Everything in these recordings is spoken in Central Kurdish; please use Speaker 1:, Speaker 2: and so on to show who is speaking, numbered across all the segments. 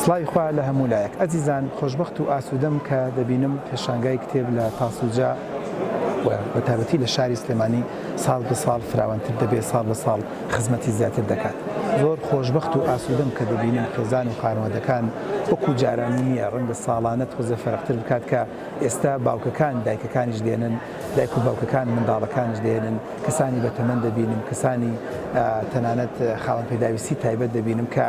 Speaker 1: سڵاوی خوا لە هەموو لایەک ئەزیزان خۆشببخت و ئاسوودەم کە دەبینم پێشانگای کتێب لە تاسوجا بە تابەتی لە شاری سلێمانی ساڵ بە ساڵ فراوانتر دەبێت ساڵ بە ساڵ خزمەتی زیاتر دەکات زۆر خۆشببخت و ئاسوودەم کە دەبینم خێزان و خانوادەکان وەکو جارانی نییە ڕەنگە ساڵانە تۆزە فەرقتر بکات کە ئێستا باوکەکان دایکەکانیش دێنن دایک و باوکەکان منداڵەکانیش دەهێنن، کەسانی بەتەمەن دەبینم، کەسانی تەنانەت خاوەن پێداویستی تایبەت دەبینم کە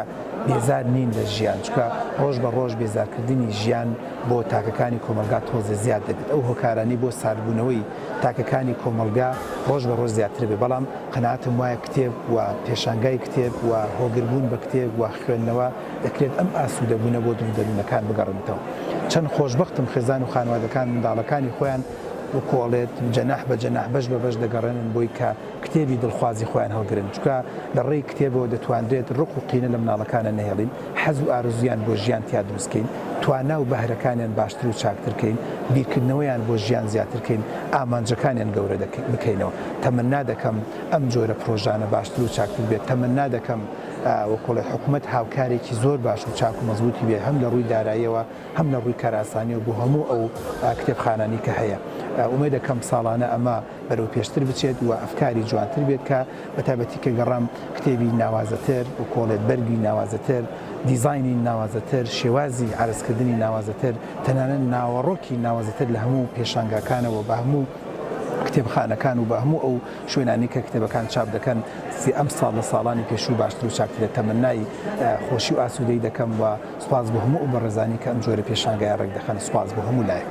Speaker 1: بێزار نین لە ژیان، چونکە ڕۆژ بە ڕۆژ بێزارکردنی ژیان بۆ تاکەکانی کۆمەڵگا تۆزێ زیاد دەبێت، ئەو هۆکارانەی بۆ ساردبوونەوەی تاکەکانی کۆمەڵگا ڕۆژ بە ڕۆژ زیاتر بێت، بەڵام قەناعەتم وایە کتێب و پێشانگای کتێب و هۆگربوون بە کتێب و خوێندنەوە، دەکرێت ئەم ئاسوودە بوونە بۆ دڵ و دەروونەکان بگەڕێنێتەوە. چەند خۆشبەختم خێزان و خانوادەکان منداڵەکانی خۆیان وکۆڵێت جەناح بە جەناح بەش بە بەش دەگەڕێنن بۆی کە کتێبی دڵخوازی خۆیان هەڵگرن چونکە لە ڕێی کتێبەوە دەتوانرێت ڕق و قینە لە مناڵەکانە نەهێڵین حەز و ئارزوویان بۆ ژیان تیا دروست کەین توانا و بەهرەکانیان باشتر و چاکتر کەین بیرکردنەوەیان بۆ ژیان زیاتر کەین ئامانجەکانیان گەورە بکەینەوە تەمەنا دەکەم ئەم جۆرە پرۆژانە باشتر و چاکتر بێت تەمەنا دەکەم وکوڵێ حکومەت هاوکارێکی زۆر باش و چاک و مەزبوتی بێت هەم لە ڕووی داراییەوە هەم لە ڕووی کاراسانیەوە بۆ هەموو ئەو کتێبخانانی کە هەیە ئومێد دەکەم ساڵانە ئەمە بەرەو پێشتر بچێت و ئەفکاری جوانتر بێت کە بە تایبەتی کە گەڕام کتێبی ناوازەتر وکۆڵێ بەرگی ناوازەتر دیزاینی ناوازەتر شێوازی عەرزکردنی ناوازەتر تەنانەت ناوەڕۆکی ناوازەتر لە هەموو پێشانگاکانەوە بە هەموو کتێبخانەکان و بە هەموو ئەو شوێنانی کە کتێبەکان چاپ دەکەن سێ ئەمساڵ لە ساڵانی پێشوو باشتر و چاکترە تەمەنای خۆشی و ئاسوودەی دەکەم و سوپاس بۆ هەموو ئەو بەڕێزانەی کە ئەم جۆرە پێشانگایە ڕێکدەخەن سوپاس بۆ هەموو لایەک.